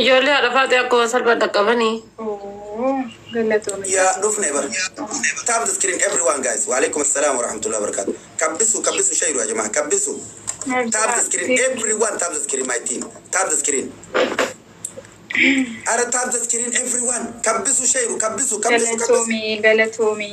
Ijoollee haadha faaxee akkuma salphaan dhaqqabanii. Ooh galatoomi Ya Faaxee. dhufne bar. Tap the screen everyone guys. Wa alaikum assalam wa rahmatullahi wa barakatuh. Kabbisu kabbisu shayru ya jamaa kabbisu. Tap the Najaa screen deebiin. everyone tap the screen my team. Tap the screen. Ara tap the screen everyone. Kabbisu shayru kabbisu kabbisu kabbisu. Galatoomi galatoomi.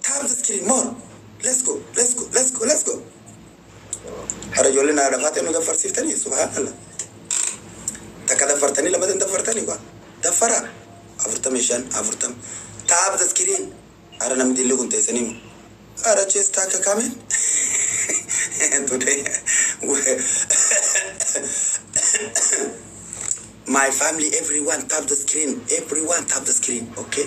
Times screen more let's go let's go let's go let's go Hara ijoollee naa dafaatee nu daffarsiiftanii subhaanallah takka daffartanii lamata hin daffartanii kwa daffaraa afurtamii shan afurtam taap the screen hara namni dilli kun teessanii mo hara chees taakka kaamen today my family everyone tap the screen everyone tap the screen okay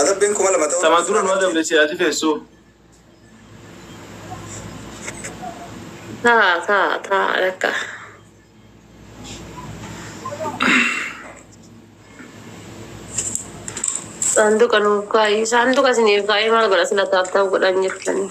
Adabbiin kuma lama ta'uu Tamaan dura nu adabde si ati feessuu. Taa taa taa lakka. Saanduqa nuuf kaa'i. Saanduqa isiniif kaa'ee maal godha sila taaf ta'u godhan jirtanii.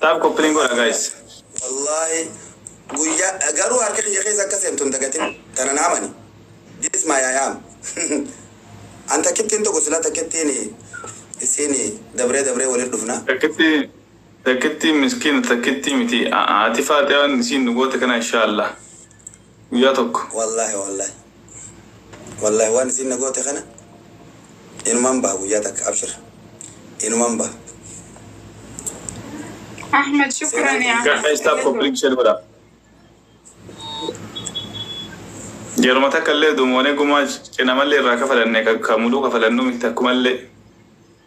Taab koppilink godha guys. Wallahi guyya garuu harka kiyya keessa akka seentu hin dagatin tana na amani this my I am an takkittiin tokko sila takkittiin isiin dabree dabree waliin dhufna. Takkitti takkittiin miskiina takkittii miti ati faatiyaan isiin nu goote kana inshaa Allah. guyyaa tokko. Wallahi wallahi wallahi waan isiin na goote kana inuman baha guyyaa takka abshir inuman baha. Ahmed shukran yaa Ahmed Guys tap for link share godha. Yeruma takka illee dumoonee gumaa cinamallee irraa kafalanne kan muluu kafalannu miti takkumallee.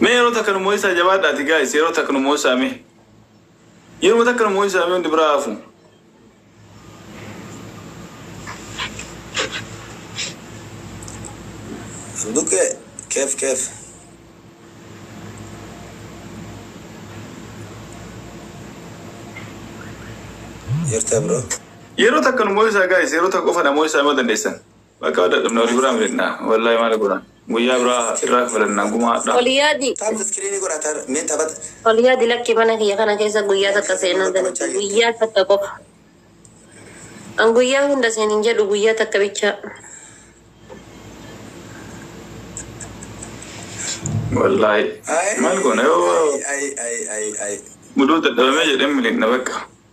Mee yeroo takka nu moo'isaa jabaadhaati guys yeroo takka nu moo'isaa mee. Yeroo takka nu moo'isaa mee hundi biraa hafu. Duke, kef kef. Jirta bro. Yeroo takka nu moo'isaa guys yeroo takka qofa na moo'isaa yoo dandeessan. Bakaa wal dhadhabne wali biraa miidhagna wallaahi maali godhan guyyaa biraa irraa kafalanna gumaa hadhaa. Wal yaadi. Taabta screen godha ta mee taphata. Wal yaadi lakki mana kiyya kana keessa guyyaa takka seenaan dalagu guyyaa takka qofa an guyyaa hunda seen hin jedhu guyyaa takka bichaa. Wallaahi Ayii maal goona yoo ayii ayii ayii ayii. muduu dadhabamee jedheen miliqna bakka.